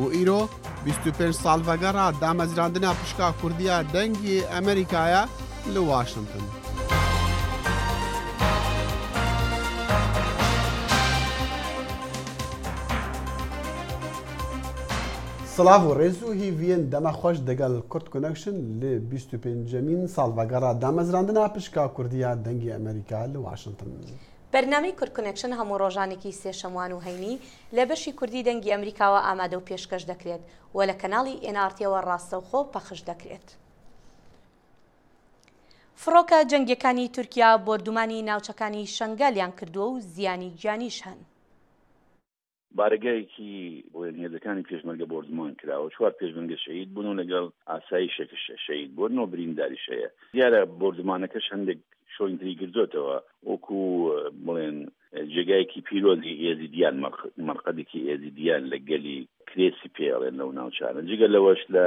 و ئیرۆ بیست و پێنج ساڵ ڤەگەڕا دامەزراندنا پشکا کوردیا دەنگی ئەمەریکایە لە واشنتن. سڵاڤ و ڕێز و هیڤیێن دەمە خۆش دەگەل کورد کونەکشن لێ بیست و پێنجەمین ساڵ ڤەگەڕا دامەزراندنا پشکا کوردیا دەنگی ئەمەریکا لە واشنتن. بەرنامەی کورد کونێکشن هەموو ڕۆژانێکی سێ شەموان و هەینی لە بەشی کوردی دەنگی ئەمریکاوە ئامادە و پێشکەش دەکرێت و لە کەناڵی ئێن ئاڕ تیەوە ڕاستەوخۆ پەخش دەکرێت. فڕۆکە جەنگیەکانی تورکیا بۆردومانی ناوچەکانی شەنگالیان کردووە و زیانی گیانیش هەن. بارەگایەکی بۆیەن هێزەکانی پێشمەرگە بۆردومان کراوە، چوار پێشمەرگە شەهید بوون و لەگەڵ ئاسایشێکش شەهید بووە، نۆ برینداریش هەیە. دیارە بۆردومانەکەش هەندێک شۆین تری گرتۆتەوە، وەکو بڵێن جێگایەکی پیرۆزی ئێزیدیان، مەرقەدێکی ئێزیدیان لە گەلی کرێسی پێ ئەڵێن لەو ناوچانە. جگە لەوەش لە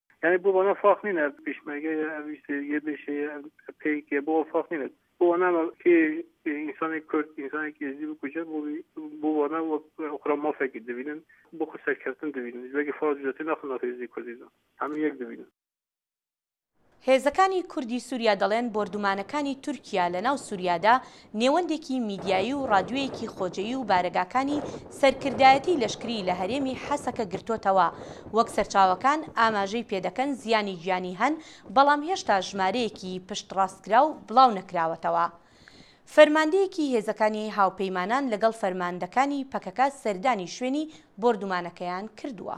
یعنی بۆ بەنە فاق نینە پیشمەرگە ئەویستێ یە بێشێ پێیکێ بۆ فاق نینە بۆ نامە کێ ئینسانی کورد ئینسانێکی ئێزدی بکوژە بۆ بۆ وانە وەک ئۆخرا مافێکی دەبینن بۆ خو سەرکەوتن دەبینن وەگی فاز جوتی ناخن ناخ ئێزدی کوردیدا هەموو یەک دەبینن هێزەکانی کوردی سووریا دەڵێن بۆردومانەکانی تورکیا لەناو سووریادا نێوەندێکی میدیایی و ڕادیۆیەکی خۆجێی و بارەگاکانی سەرکردایەتیی لەشکریی لە هەرێمی حەسەکە گرتۆتەوە. وەک سەرچاوەکان ئاماژەی پێ دەکەن زیانی گیانی هەن، بەڵام هێشتا ژمارەیەکی پشتڕاستکراو بڵاو نەکراوەتەوە. فەرماندەیەکی هێزەکانی هاوپەیمانان لەگەڵ فەرماندەکانی پەکەکە سەردانی شوێنی بۆردومانەکەیان کردووە.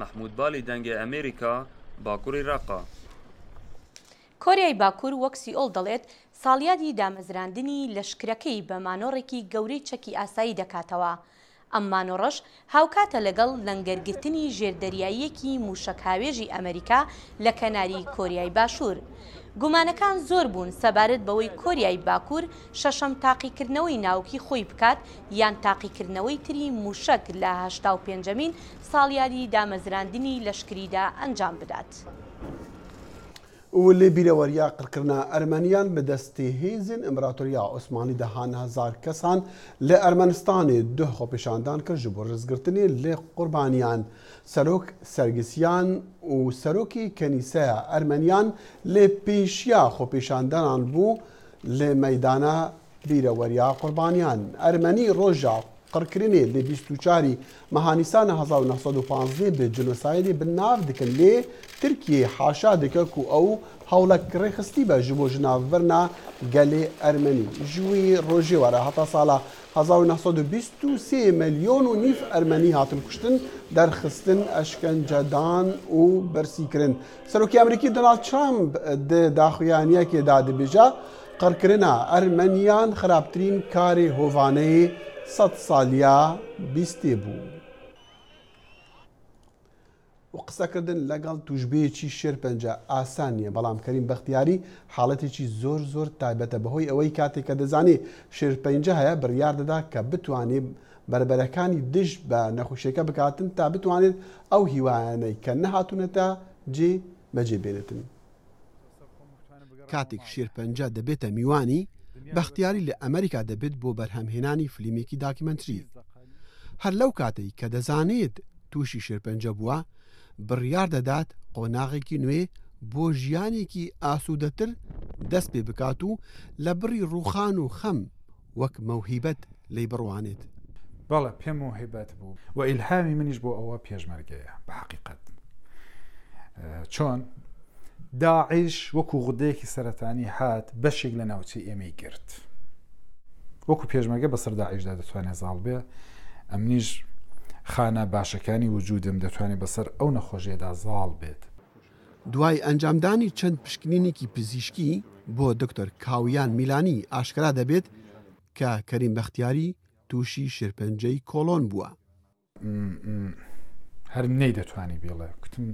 مەحمود بالی دەنگێ ئەمێریکا باکوڕی ڕەقە. کۆریای باکوور وەک سیئۆڵ دەڵێت ساڵیادی دامەزراندنی لەشکرەکەی بە مانۆڕێکی گەورەی چەکی ئاسایی دەکاتەوە، ئەم مانۆڕەش هاوکاتە لەگەڵ لەنگەرگرتنی ژێردەریاییەکی مووشەکهاوێژی ئەمەریکا لە کەناری کۆریای باشوور. گومانەکان زۆر بوون سەبارەت بەوەی کۆریای باکوور شەشەم تاقیکردنەوەی ناوکی خۆی بکات یان تاقیکردنەوەی تری مووشەک لە هەشتا و پێنجەمین ساڵیادی دامەزراندنی لەشکریدا ئەنجام بدات. ولێ بیرەوەریە قڕکرنا ئەرمەنیان لە دەستێ هێزێن ئمبراتۆریە عوسمانی دە هان هەزار کەسان لە ئەرمەنستانێ دو خۆپیشاندان کرد ژ بۆ رزگرتنێ لە قوربانیان سەرۆک سەرگسیان و سەرۆکی کەنیسەە ئەرمەنیان لە پێشیا خۆپیشاندانان بو لە مەیدانە بیرەوەریە قوربانیان ئەرمەنی ڕۆژە قڕکرنێ لە بیست و چار ی مەها نیسانە هەزار و نۆ سەد و پازدە بە جنۆسایدێ بن ناڤ دکن لێ ترکیێ حاشا دکە کو ئەو هەوڵە ک ڕێخستیبە ژبۆ ژناڤ ڤرنا گەلێ ئەرمەنی ژووی ڕۆژێ وەرە هەتا ساڵە هەزار و نۆ سەد و بیست و سێ ملیۆن و نیڤ ئەرمەنی هاتن کوشتن دەرخستن ئەشکەنجە دان و برسی کرن سەرۆکی ئەمریکی دۆناڵد ترامپ دێ داخویانیەکێ دادبێژە قڕکردنا ئەرمەنیان خراپترین کارێ هۆڤانەی سەد ساڵیا بیستێ بوو. و قسەکردن لەگەڵ توشبێکی شێرپەنجە ئاسان نیە بەڵام کەریم بەختیاری حاڵەتێکی زۆر زۆر تایبەتە بەهۆی ئەوەی کاتێک کە دەزانێ شێرپەنجە هەیە بڕیار دەدا کە بتوانێ بەربەرەکانی دژ بە نەخوشیەکە بکاتن تا بتوانێت ئەو هیوایانەی کە نەهاتونەتە جێ بەجێ بێنێتن. کاتێک شێرپەنجە دەبێتە میوانی، بەختیاری لە ئەمەریکا دەبێت بۆ بەرهەمهێنانی فلیمێکی داکیمەنتری. هەر لەو کاتەی کە دەزانێت تووشی شێرپەنجە بووە، بڕیار دەدات قۆناغێکی نوێ بۆ ژیانێکی ئاسوودەتر دەست پێ بکات و لە بڕی ڕووخان و خەم وەک مەوهیبەت لێی بڕوانێت. بەڵێ پێم مەوهیبەت بوو و ئیلهامی منیش بۆ ئەوە پێشمەرگەیە بە حەقیقەت چۆن داعش وەکو غودەیەکی سەرەتانی هات بەشێک لە ناوچەی ئێمەی گرت وەکو پێشمەرگە بەسەر داعشدا دەتوانێت زاڵ بێ ئەمنیش خانە باشەکانی وجودم دەتوانێت بەسەر ئەو نەخۆشیەدا زاڵ بێت دوای ئەنجامدانی چەند پشکنینێکی پزیشکی بۆ دکتۆر کاویان میلانی ئاشکرا دەبێت کە کەریم بەختیاری تووشی شێرپەنجەی کۆڵۆن بووە. هەر نەی دەتوانی بیڵێ کوتم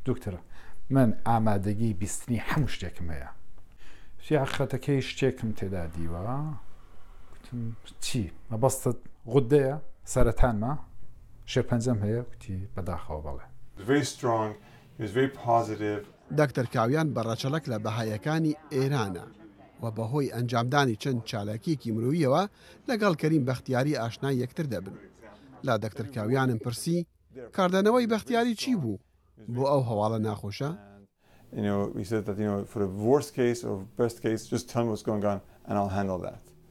دکتۆر من ئامادەگی بیستنی هەموو شتێکم هەیە سیاخەتەکەی شتێکم تێدا دیوە چی مەبەستت غودەیە سەرەتانمە شێرپەنجەم هەیە کوتی بەداخەوە بەڵێ very strong دەکتەر کاویان بە ڕەچەڵەک لە بەهاییەکانی ئێرانە و بە هۆی ئەنجامدانی چەند چالاکییەکی مرۆییەوە لەگەڵ کەریم بەختیاری ئاشنای یەکتر دەبن. لە دەکتەر کاویانم پرسی کاردانەوەی بەختیاری چی بوو بۆ ئەو هەواڵە ناخۆشە؟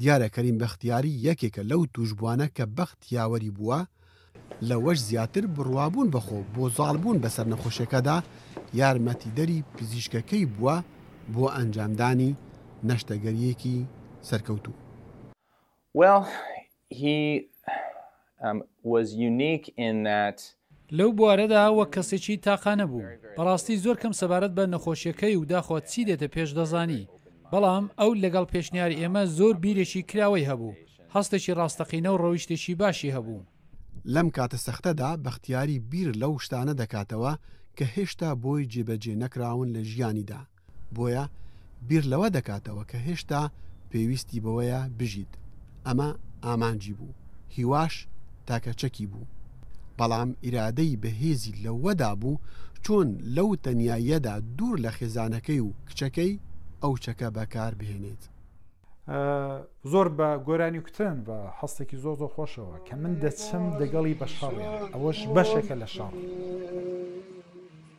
دیارە کەریم بەختیاری یەکێکە لەو تووشبووانە کە بەخت یاوەری بووە، لەوەش زیاتر بڕوابوون بەخۆ و بۆ زاڵبوون بەسەر نەخۆشیەکەدا یارمەتیدەری پزیشکەکەی بووە بۆ ئەنجامدانی نەشتەگەریەکی سەرکەوتوو. Well He was unique in that. لەو بوارەدا وەک کەسێکی تاقانە بووم. بەڕاستی زۆر کەم سەبارەت بە نەخۆشیەکەی و داخۆ چی دێتە پێش دەزانی. بەڵام ئەو لەگەڵ پێشنیاری ئێمە زۆر بیرێکی کراوەی هەبوو، هەستێکی ڕاستەقینە و ڕەویشتێکی باشی هەبوو. لەم کاتە سەختەدا بەختیاری بیر لەو شتانە دەکاتەوە کە هێشتا بۆی جێبەجێ نەکراون لە ژیانیدا. بۆیە بیر لەوە دەکاتەوە کە هێشتا پێویستی بەوەیە بژیت، ئەمە ئامانجی بوو، هیواش تاکە چەکی بوو. بەڵام ئیرادەی بەهێزی لەوەدا بوو چۆن لەو تەنیاییەدا دوور لە خێزانەکەی و کچەکەی، ئەو چەکە بەکار بهێنێت. زۆر بە گۆرانی کوتن بە هەستێکی زۆر زۆر خۆشەوە کە من دەچم دەگەڵی بە شەڕێ ئەوەش بەشێکە لە شەڕ.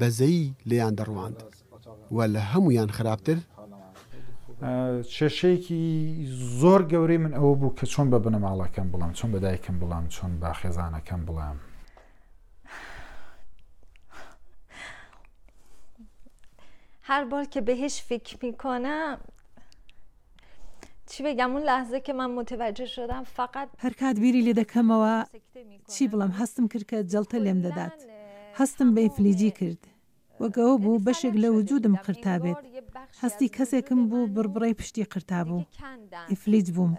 بەزەیی لێیان دەڕواند و لە هەموویان خراپتر، کێشەیەکی زۆر گەورەی من ئەوە بوو کە چۆن بە بنەماڵەکەم بڵێم، چۆن بە دایکم بڵێم، چۆن بە خێزانەکەم بڵێم. هەر بار کە بهش فکر میکنم چی بگم اون لحظه که من متوجه شدم فقط هەرکات بیری لێ دەکەمەوە چی بڵێم هەستم کرد کە جەڵتە لێم دەدات هەستم بە ئیفلیجی کرد وەک ئەوە بوو بەشێک لە وجودم قرتابێت هەستی کەسێکم بوو بڕبڕەی پشتی قرتابوو ئیفلیج بووم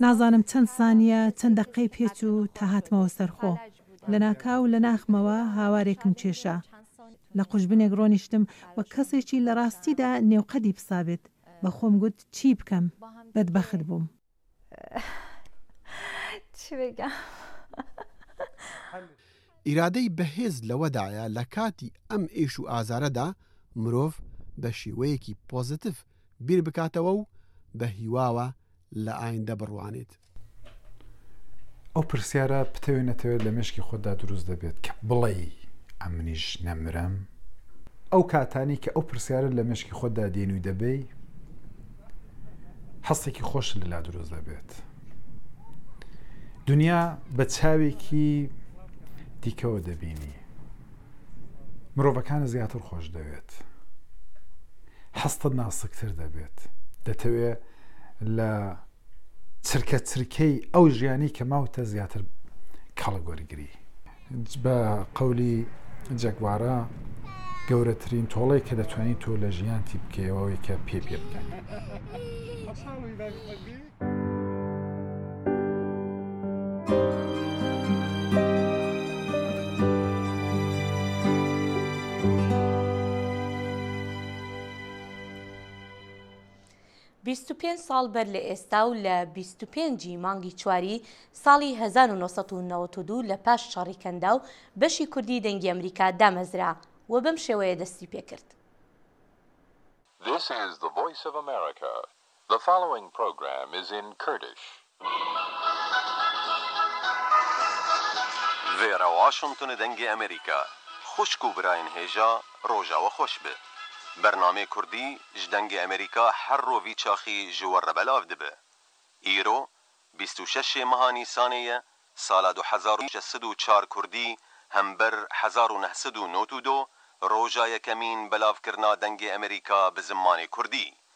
نازانم چەند سانیە چەند دەقەی پێ چوو تا هاتمەوە سەر خۆ لەناکاو لە ناخمەوە هاوارێکم کێشا لە قوژبنێک ڕۆنیشتم وەک کەسێکی لە ڕاستیدا نێو قەدی پسابێت بە خۆم گوت چی بکەم بەدبەخت بووم. ئیرادەی بەهێز لەوەدایە لە کاتی ئەم ئێش و ئازارەدا مرۆڤ بە شێوەیەکی پۆزەتڤ بیر بکاتەوە و بە هیواوە لە ئایندە بڕوانێت. ئەو پرسیارە پتەوێ نەتەوێت لە مشکی خۆتدا دروست دەبێت کە بڵێ ئەمنیش نەمرم ئەو کاتانی کە ئەو پرسیارە لە مشکی خۆتدا دێن و دەبی هەستێکی خۆش لەلا دروست دەبێت دنیا بە چاوێکی دیکەوە دەبینی مرۆڤەکان زیاتر خۆش دەوێت حستە ناسکتر دەبێت دەتەوێت لە چرکە چرکەی ئەو ژیانی کە ماوتە زیاتر کەڵک وەرگری. بە قەولی جەگوارا گەورەترین تۆڵەی کە دەتوانین تۆ لە ژیانتی بکەیەوەوەی کە پێ پێ بکەن. بیست و پێنج ساڵ بەر لە ئێستا و لە بیست و پێنج ی مانگی چواری ساڵی هەزار و نۆ سەد و نەوەد و دوو لە پاش شەڕی کەنداو بەشی کوردی دەنگی ئەمریکا دامەزرا و بەم شێوەیە دەستی پێ کرد. This is the voice of America. The following program is in Kurdish. ڤێرا واشنتن دەنگی ئەمریکا خوشک و براین هێژا ڕۆژاوە خوەش ب بەرنامەێ کوردی ژ دەنگێ ئەمریکا هەر ڕۆڤی چاخی ژ وەڕە بەلاڤ دب ئیرۆ بیست و شەش ێ مها نیسانێ یە سالا دو هەزار و شەش سد و چار کوردی هەم بەر هەزار و نە سد و نۆد و دۆ ڕۆژا یەکەمین بەلاڤ کرنا دەنگێ ئەمریکا ب زمانێ کوردی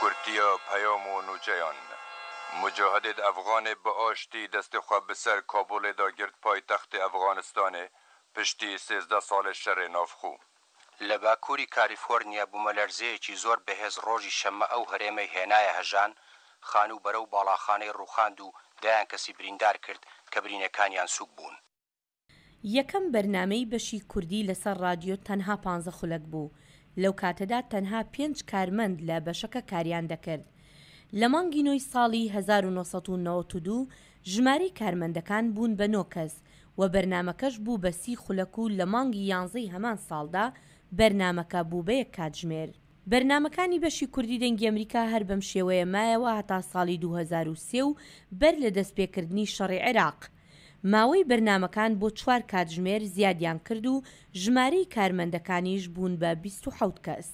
کورتی و پەیام و نووچەیان موجاهدێد ئەفغانێ بە ئاشتی دەستێ خوە بە سەر کابوڵێ دا گرت پایتەختێ ئەفغانستانێ پشتی سێزدە ساڵێ شەرێ ناڤخو. لە باکووری کالیفۆرنیا بوومەلەرزەیەکی زۆر بەهێز ڕۆژی شەممە ئەو هەرێمەی هێنایە هەژان خان و بەرەو باڵاخانەی ڕووخاند و دەیان کەسی بریندار کرد کە برینەکانیان سووک بوون. یەکەم بەرنامەی بەشی کوردی لەسەر ڕادیۆ تەنها پانزە خولەک بوو، لەو کاتەدا تەنها پێنج کارمەند لە بەشەکە کاریان دەکرد. لە مانگی نۆی ساڵی هەزار و نۆ سەد و نەوەد و دوو ژمارەی کارمەندەکان بوون بە نۆ کەس و بەرنامەکەش بوو بە سی خولەک و لە مانگی یانزەی هەمان ساڵدا بەرنامەکە بوو بە یەک کاتژمێر. بەرنامەکانی بەشی کوردی دەنگی ئەمریکا هەر بەم شێوەیە مایەوە هەتا ساڵی دوو هەزار و سێ و بەر لە دەستپێکردنی شەڕی عێراق، ماوەی بەرنامەکان بۆ چوار کاتژمێر زیادیان کرد و ژمارەی کارمەندەکانیش بوون بە بیست و حەوت کەس.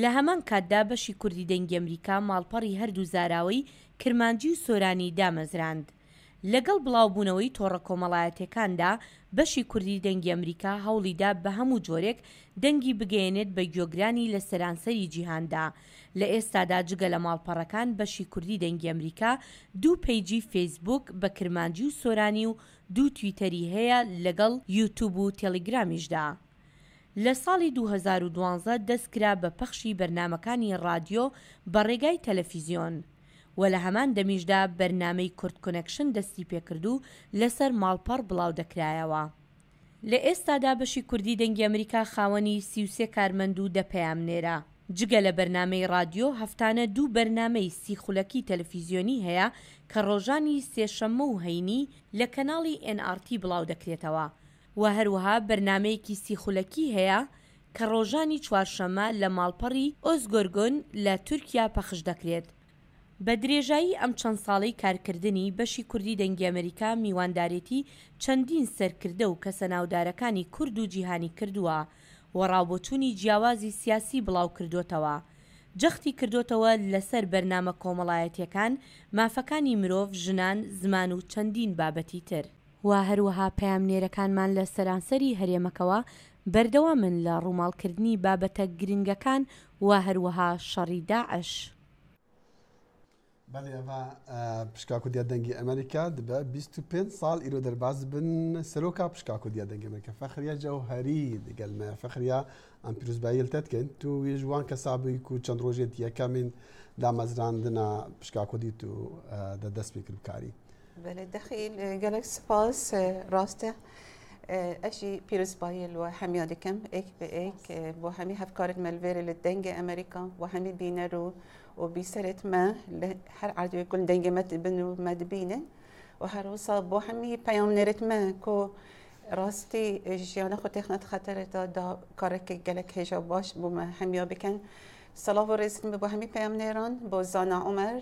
لە هەمان کاتدا بەشی کوردی دەنگی ئەمریکا ماڵپەڕی هەردوو زاراوەی کرمانجی و سۆرانی دامەزراند. لەگەڵ بڵاوبوونەوەی تۆڕە کۆمەڵایەتییەکاندا بەشی کوردی دەنگی ئەمریکا هەوڵیدا بە هەموو جۆرێک دەنگی بگەیەنێت بە گوێگرانی لە سەرانسەری جیهاندا لە ئێستادا جگە لە ماڵپەڕەکان بەشی کوردی دەنگی ئەمریکا دوو پەیجی فەیسبووک بە کرمانجی و سۆرانی و دوو تویتەری هەیە لەگەڵ یوتوب و تێلیگرامیشدا. لە ساڵی دوو هەزار و دوازدە دەست کرا بە پەخشی بەرنامەکانی ڕادیۆ بە ڕێگای تەلەفیزیۆن و لە هەمان دەمیشدا بەرنامەی کوردکونێکشن دەستی پێکرد و لەسەر ماڵپەڕ بڵاو دەکرایەوە. لە ئێستادا بەشی کوردی دەنگی ئەمریکا خاوەنی سی و سێ کارمەند و دە پەیامنێرە. جگە لە بەرنامەی رادیۆ، هەفتانە دوو بەرنامەی سی خولەکی تەلەفیزیۆنی هەیە کە رۆژانی سێشەممە و هەینی لە کەناڵی ئێن ئاڕ تی بڵاودەکرێتەوە و هەروەها بەرنامەیەکی سی خولەکی هەیە کە رۆژانی چوارشەممە لە ماڵپەڕی ئۆزگۆرگۆن لە تورکیا پەخشدەکرێت. بە درێژایی ئەم چەند ساڵەی کارکردنی، بەشی کوردی دەنگی ئەمەریکا میواندارێتی چەندین سەرکردە و کەسە ناودارەکانی کورد و جیهانی کردووە و ڕاوبۆچوونی جیاوازی سیاسی بڵاوکردۆتەوە. جەختی کردۆتەوە لەسەر بەرنامە کۆمەڵایەتیەکان، مافەکانی مرۆڤ، ژنان، زمان و چەندین بابەتی تر. و هەروەها پەیامنێرەکانمان لە سەرانسەری هەرێمەکەوە بەردەوامن لە ڕووماڵکردنی بابەتە گرنگەکان و هەروەها شەڕی داعش. بەلی ئەڤا پشکا کوردیا دەنگی ئەمەریکا دبە بیست و پێنج ساڵ ئیرۆ دەرباز بن سەرۆکا پشکا کوردیا دەنگی ئەمەریکا فەخریا جەوهەری دگەل مە فەخریا ئەم پیروزبایی لتەت کەن تو ویژ وان کەسابی کو چەند ڕۆژێت یەکەمین دامەزراندنا پشکا کوردی تو دە دەست پێ کرد کاری بەێ دەخیل گەلک سپاس ڕاستە ئەشی پیرسپایل و هەمیا دەکەم ئێک بە ئێک بۆ هەمی هەفکارت مەلێرە لە دەنگە ئەمریکا و هەمی بینەر و و بیسەرت مە لە هەر عادوێ کون دەنگە مەت بن و مەدبینن و هەروسا بۆ هەمی پەیام نێرت مە کۆ ڕاستی ژیانە خۆ تێخنەت خەتەرێتا دا کارێکی گەلک هێژا باش بوومە هەمیا بکەن سەڵاو و ڕێزم بۆ هەمی پەیام نێران بۆ زانا عمر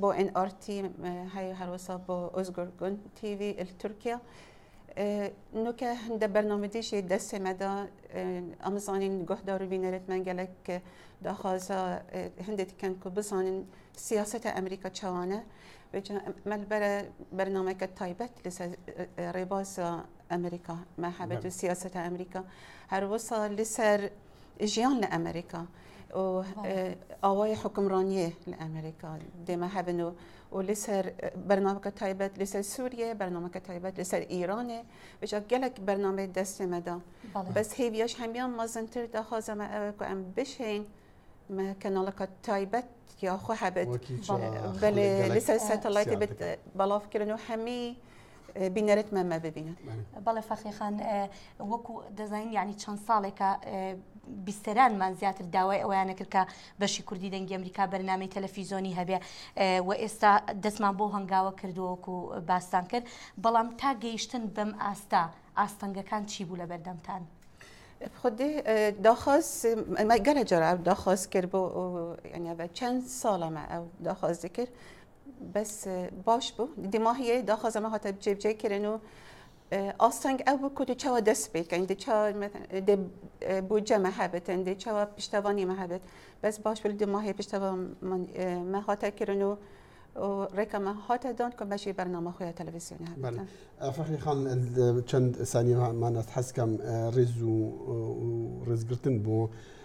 بۆ ئێن ئار تی هەیە هەروەسا بۆ ئۆزگور گون تیوی تورکیا نوکە هەندە بەرنامەدیشی دەسێمەدا ئەمزانین گۆهدار و بینەرت مەنگەلک داخوازە هەندێک کەن کو بزانین سیاستە ئەمریکا چاوانە مەلبەرە بەرنمەکە تایبەت لەسەر ڕێباز ئەمریکا مەحەبەت و سیاستە ئەمریکا هەروەسا لەسەر ژیان لە ئەمریکا ئاوای حکمڕانیە لە ئەمریکا دێمە هەبن و و لەسەر بەرنامەکە تایبەت لەسەر سووریە بەرنامەکە تایبەت لەسەر ئیرانێ بجا گەلک بەرنامەی دەستێمەدا بەس هێویش هەمیان مەزنتر داخوازەمە ئەوکو ئەم بشین کەناڵەکە تایبەت یاخوا هەبێت لەسەر سەتەڵایتی بەڵافکردن و هەمی بینەرت مەمە ببینن بەڵێ فەخیخان وەکو دەزانین یعنی چەند ساڵێکە بیستەرانمان زیاتر داوای ئەویانە کرد کە بەشی کوردی دەنگی ئەمریکا بەرنامەی تەلەفیزۆنی هەبێ و ئێستا دەستمان بۆ هەنگاوە کردووەکو باستان کرد بەڵام تا گەیشتن بەم ئاستا ئاستەنگەکان چی بوو لە بەردەمتان. خودی داخواز گەلە جراب داخواز کرد بۆ چەند ساڵەمە ئەو داخوازی کرد بەس باش بوو دیماهیە داخوا زەمە هاتە جێبجێ کرن و ئاستەنگ ئەو بکو دو چاوە دەست بکەین دو بۆ جەمە هەبێتن دێ چاوە پشتەوانی مە هەبێت بەس باش بل دیماهی پشتەوە مە هاتە کرن و ڕێکەمە هاتە دان کە بەشی بەرنامە خۆیان تەلەڤزیۆن فەخری خان چەند سانیمانەت حەزکەم ڕێز و ڕێزگرتن بۆ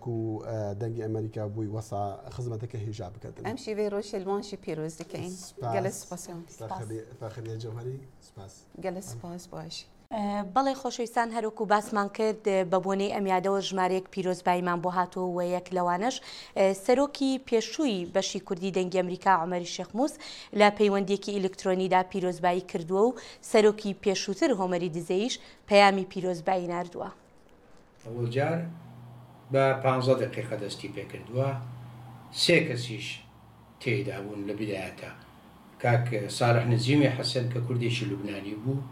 کو دەنگی ئەمەریکا بوی وەسا خزمەتە کە هیژا بکەتن ئەم شیوەی ڕۆژە لمانشی پیرۆز دکەین گەلە سپاس فاخریە جەوهری سپاس گەلە سپاس باشی بەڵێ خۆشەویستان هەروەکو باسمان کرد بە بۆنەی ئەم یادەوە ژمارەیەک پیرۆزباییمان بۆ هاتووە و یەک لەوانەش سەرۆکی پێشووی بەشی کوردی دەنگی ئەمریکا عومەری شێخ موس لە پەیوەندیەکی ئیلکترۆنیدا پیرۆزبایی کردووە و سەرۆکی پێشووتر هۆمەری دزەیش پەیامی پیرۆزبایی ناردووە. ئەوجار بە پانزە دەقیقە دەستی پێکردووە سێ کەسیش تێیدا بوون لە بدایەتە کاک ساڵح نزیمی حەسەن کە کوردێکی لوبنانی بوو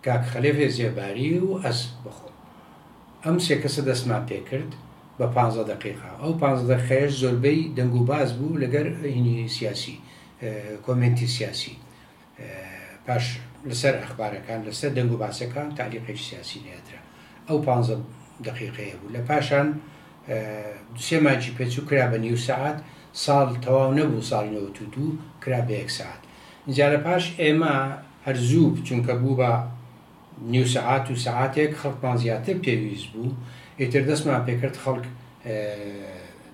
کاک خەلێفێ زێباری و ئەس بخۆم ئەم سێ کەسە دەستمان پێکرد بە پانزە دەقیقا ئەو پانزە دەقیقەیەش زۆربەی دەنگ و باز بوو لەگەر هینی سیاسی کۆمێنتی سیاسی پاش لەسەر ئەخبارەکان لەسەر دەنگ و باسەکان تالیقێکی سیاسی نەیەترا ئەو پ دقیقەیە بوو لە پاشان دوسێ ماجی پێچوو کرا بە نیو سعات ساڵ تەواو نەبوو ساڵی نەوەت و دوو کرا بە یەک سعات اینجا لە پاش ئێمە هەرزوو چونکە بوو بە نیو سەعات و سەعاتێک خەڵکمان زیاتر پێویست بوو ئیتر دەستمان پێکرد خەڵک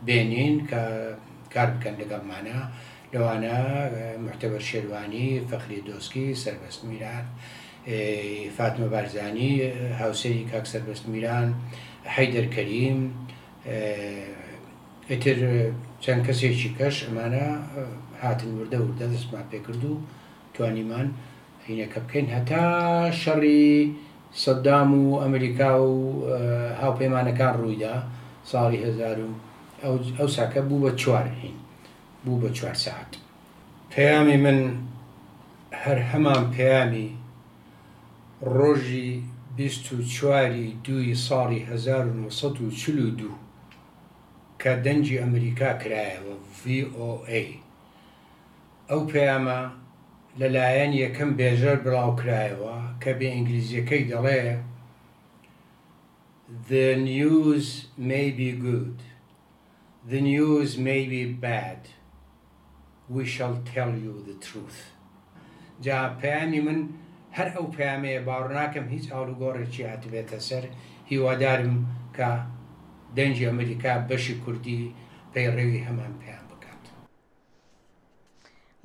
بێنین کە کار بکەن لەگەڵمانە لەوانە محتەبەر شێروانی فەخری دۆسکی سربەست میران فاتمە بارزانی هاوسەری کاک سربەست میران حەیدەر کەریم ئیتر چەند کەسێکی کەش ئەمانە هاتن وردە وردە دەستمان پێکرد و توانیمان هەینەکە بکەین هەتا شەڕی سەدام و ئەمریکا و هاوپەیمانەکان ڕوویدا ساڵی هەزار و ئەوساکە بوو بە چوار هین بوو بە چوار ساعت پەیامی من هەر هەمان پەیامی ڕۆژی بیست و چواری دووی ساڵی هەزار و نۆ سەد و چل و دوو کە دەنگی ئەمریکا کرایەوە، VOA، ئەو پەیامە لە لایەن یەکەم بێژەر بڵاو کرایەوە کە بە ئینگلیزیەکەی دەڵێ The news may be good The news may be bad We shall tell you the truth جا پەیامی من هەر ئەو پەیامەیە باوەڕناکەم هیچ ئاڵوگۆڕێکی هاتبێتە سەر هیوادارم کە دەنگی ئەمریکا بەشی کوردی پەیڕەوی هەمان پەیام بکات.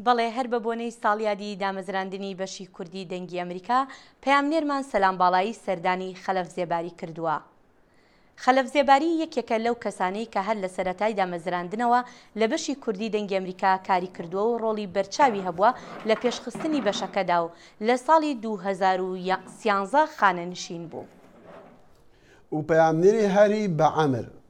بەڵێ هەر بە بۆنەی ساڵیادی دامەزراندنی بەشی کوردی دەنگی ئەمریکا پەیامنێرمان سەلام باڵایی سەردانی خەلەف زێباری کردووە. خەلەف زێباری یەکێکە لەو کەسانەی کە هەر لە سەرەتای دامەزراندنەوە لە بەشی کوردی دەنگی ئەمریکا کاری کردووە و ڕۆڵی بەرچاوی هەبووە لە پێشخستنی بەشەکەدا و لە ساڵی دوو هەزار و سیانزە خانەنشین بوو. و پەیامنێری هەری بە عەمر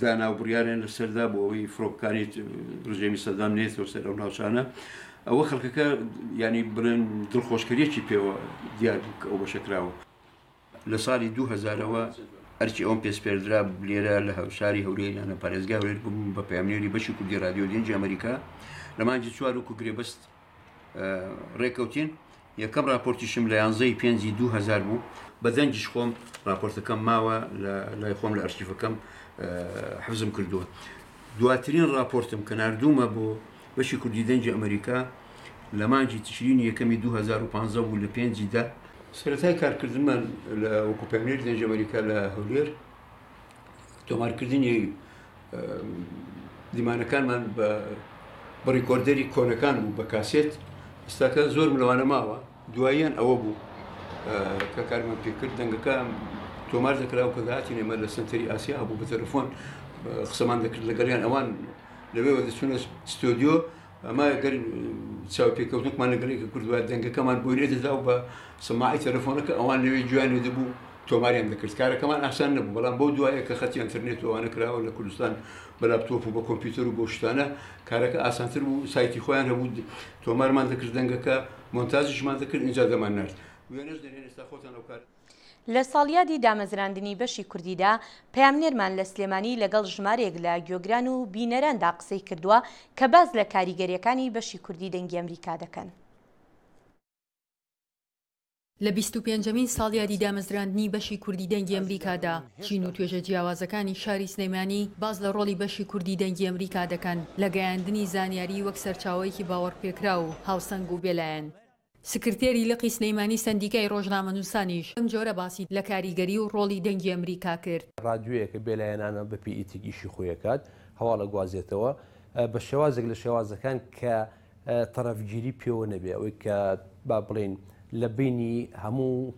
دانا و بڕیاریان لەسەردا بۆ ئەوەی فڕۆکەکانی ڕژێمی سەدام نێتەوە سەر ئەو ناوچانە ئەوە خەڵکەکە ینی بڵێن دڵخۆشکەریەکی پێوە دیار بوو کە ئەو بەشەکراوە لە ساڵی 2000ەوە ئەرچی ئەوم پێسپێردرا لێرە لە هەوشاری هەولێر یانە پارێزگا هەولێر بووم بە پەیامنێری بەشی کوردی رادیۆ گەنجی ئەمریکا لە مانگی چوار وەکو گرێبەست ڕێکەوتین یەکەم راپۆرتیشم لە یانزەی پێنجی دوهزار بوو بە دەنگیش خۆم راپۆرتەکەم ماوە لای خۆم لە ئەرشیفەکەم حەزم کردووە دواترین راپۆرتم کە نردومە بۆ بەشی کوردی دەنگی ئەمریکا لە مانجی تشرین یەکەمی 2015 بوو لە پێنجیدا سەرەتای کارکردمان لە وەکوپەیمێر دەنج ئەمریکا لە هەولێر تۆمارکردنی دیمانەکانمان بە بڕیکۆردەری کۆنەکان بوو بە کاسێت ئستاکە زۆرم لەوانە ماوە دواییان ئەوە بوو کە کارمان پێکرد دەنگەکان تۆمار دەکرا و کەگاتی نێمە لە سنتەری ئاسیا بوو بە تەلفۆن قسەمان دەکرد لەگەڵیان ئەوان لەوێوە دەچونە ستۆدیۆ ئەما گەر چاوپێکەوتنکمان لەگەڵ یەکێ کردبا، دەنگەکەمان بۆی نەدەدا و بە سەماعی تەلەفۆنەکە ئەوان لەوێ گوێیان لێ دەبوو، تۆماریان دەکرد. کارەکەمان ئاسان نەبوو، بەڵام بەو دوایە کە خەتی ئەنتەرنێت و ئەوانە کراوە لە کوردستان بە لاپتۆپ و بە کۆمپیوتەر و بەو شتانە، کارەکە ئاسانتر بوو، سایتی خۆیان هەبوو، تۆمارمان دەکرد دەنگەکە، مۆنتاجیشمان دەکرد، ئینجا دەماننارد. وێنەش دەنێن ئێستا خۆتان ئەو کارە. لە ساڵیادی دامەزراندنی بەشی کوردیدا، پەیامنێرمان لە سلێمانی لەگەڵ ژمارەیەک لە گوێگران و بینەراندا قسەی کردووە کە باس لە کاریگەرییەکانی بەشی کوردی دەنگی ئەمریکا دەکەن. لە بیست و پێنجەمین ساڵیادی دامەزراندنی بەشی کوردی دەنگی ئەمریکادا، چین و توێژە جیاوازەکانی شاری سلێمانی باس لە ڕۆڵی بەشی کوردی دەنگی ئەمریکا دەکەن لە گەیاندنی زانیاری وەک سەرچاوەیەکی باوەڕپێکراو و هاوسەنگ و بێلایەن. سکرتێری لقی سلێمانی سەندیکای ڕۆژنامەنووسانیش بەم جۆرە باسی لە کاریگەری و ڕۆڵی دەنگی ئەمریکا کرد. ڕادیۆیە کە بێلایەنانە بە پێی ئیتیک ئیشی خۆی ئەکات، هەواڵ ئەگوازێتەوە بە شێوازێک لە شێوازەکان کە تەڕەفگیری پێوە نەبێ، ئەوەی کە با بڵێین لە بەینی هەموو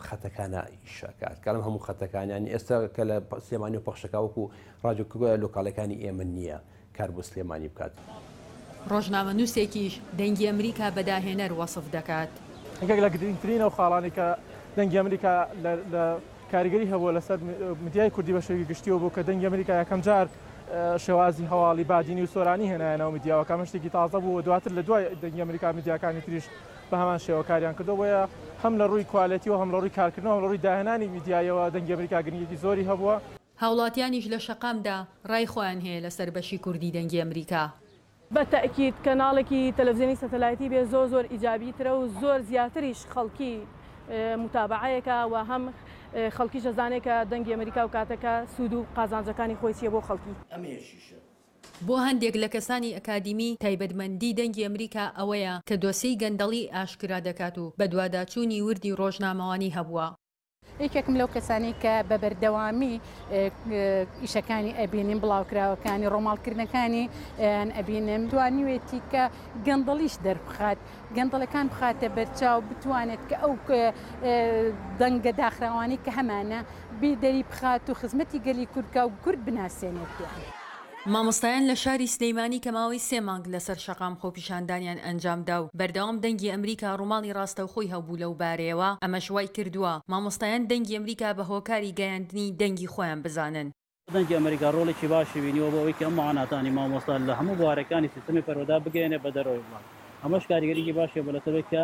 خەتەکانا ئیش ئەکات، کە لەم هەموو خەتەکانیان ئێستا کە لە سلێمانیەوە پەخش ئەکا وەکوو ڕادیۆ لۆکاڵەکانی ئێمە نییە. کار بۆ سلێمانی بکات. ڕۆژنامەنووسێکیش دەنگی ئەمریکا بە داهێنەر وەسف دەکات. یەکێک لە گرنگترین ئەو خاڵانەی کە دەنگی ئەمریکا لە کاریگەری هەبووە لەسەر میدیای کوردی بە شێوەیەکی گشتییەوە بوو کە دەنگی ئەمریکا یەکەم جار شێوازی هەواڵی بادینی و سۆرانی هێنایە ناو میدیاوە کە ئەمە شتێکی تازە بوو و دواتر لە دوای دەنگی ئەمریکا میدیاکانی تریش بە هەمان شێوە کاریان کردووە بۆیە هەم لە ڕووی کوالێتیەوە هەم لە ڕووی کارکردنەوە هەم لە ڕووی داهێنانی میدیایەوە دەنگی ئەمریکا گرنگیی زۆری هەبووە. هاوڵاتیانیش لە شەقامدا ڕای خۆیان هەیە لەسەر بەشی کوردی دەنگی ئەمریکا. بە تەئکید کەناڵێکی تەلەفزیۆنی سەتەلایتی بێ زۆر زۆر ئیجابی ترە و زۆر زیاتریش خەڵکی موتابەعەیەکا و هەم خەڵکیش ئەزانێ کە دەنگی ئەمریکا و کاتەکە سوود و قازانجەکانی خۆی چیە بۆ خەڵکی. بۆ هەندێک لە کەسانی ئەکادیمی تایبەتمەندی دەنگی ئەمریکا ئەوەیە کە دۆسێی گەندەڵی ئاشکرا دەکات و بەدواداچوونی وردی ڕۆژنامەوانی هەبووە. یەکێکم لەو کەسانەی کە بە بەردەوامی ئیشەکانی ئەبینیم بڵاوکراوەکانی ڕۆماڵکردنەکانی یان ئەبینم دوانیوێتی کە گەندەڵیش دەربخات گەندەڵەکان بخاتە بەرچاو بتوانێت کە ئەو دەنگە داخراوانی کە هەمانە بیدەری بخات و خزمەتی گەلی کوردکە و کورد بناسێنێت. مامۆستایان لە شاری سلیمانی کە ماوەی سێ مانگ لەسەر شەقام خۆپیشاندانیان ئەنجامدا و بەردەوام دەنگی ئەمریکا ڕوماڵی ڕاستەوخۆی هەبوو لەو بارەیەوە ئەمەش وایکردووە مامۆستایان دەنگی ئەمریکا بە هۆکاری گەیاندنی دەنگی خۆیان بزانن. دەنگی ئەمریکا ڕۆڵێکی باشی بینیوە بۆ ئەوەی کە ئەم معاناتانەی مامۆستا لە هەموو بوارەکانی سیستەمی پەروەدە بگەیەنێ بە دەرەوەی وڵات ئەمەش کاریگەریی باشی هەبووە لەسەر ئەوەی کە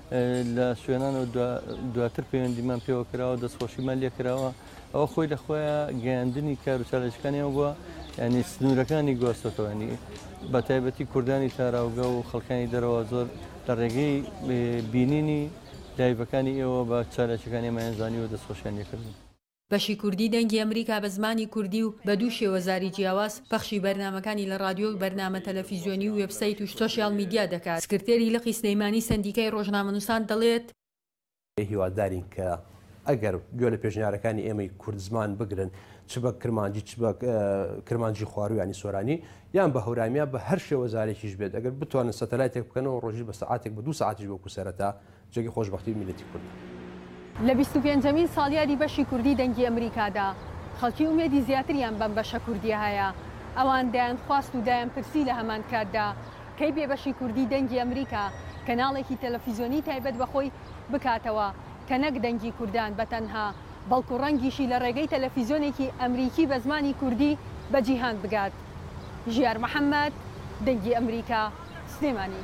لە سوێنانەوە دواتر پەیوەندیمان پێوە کراوە دەستخۆشیمان لێ کراوە ئەوە خۆی لە خۆیان گەیاندنی کار و چالێژەکانیان بووە ینی سنوورەکانی گۆستەتەوەنی بە تایبەتی کوردانی تاراوگە و خەڵکانی دەرەوە زۆر لە ڕێگەی بینینی دایبەکانی ئێوە بە چالێکەکانی مایەنزانی و دەستخۆشیان لێکردن. بەشی کوردی دەنگی ئەمریکا بە زمانی کوردی و بە دوو شێوەزاری جیاواز پەخشی بەرنامەکانی لە ڕادیۆ و بەرنامە تەلەفیزیۆنی و وێبسەیت و سۆشیال میدیا دەکات. سکرتێری لقی سلێمانی سەندیکای ڕۆژنامەنووسان دەڵێت، هیوادارین کە ئەگەر گوێ لە پێشنیارەکانی ئێمەی کوردزمان بگرن چ بە کرمانجی چ بە کرمانجی خواروو یانی سۆرانی یان بە هەورامییە بە هەر شێوەزارێکیش بێت ئەگەر بتوانن سەتەلایتێک بکەنەوە ڕۆژی بە سەعاتێک بە دوو سەعاتیش وەکو سەرەتا جەرگی خۆشبەختی میلەتی کوردە. لە بیست و پێنجەمین ساڵیادی بەشی کوردی دەنگی ئەمریکادا، خەڵکی ئومێدی زیاتریان بەم بەشە کوردییە هەیە. ئەوان دەیانخواست و دایانپرسی لە هەمان کاتدا، کەی بێ بەشی کوردی دەنگی ئەمریکا کەناڵێکی تەلەفیزیۆنی تایبەت بە خۆی بکاتەوە کە نەک دەنگی کوردان بە تەنها بەڵکو ڕەنگیشی لە ڕێگەی تەلەفیزیۆنێکی ئەمریکی بە زمانی کوردی بە جیهان بگات؟ ژیار محەمەد، دەنگی ئەمریکا، سلێمانی.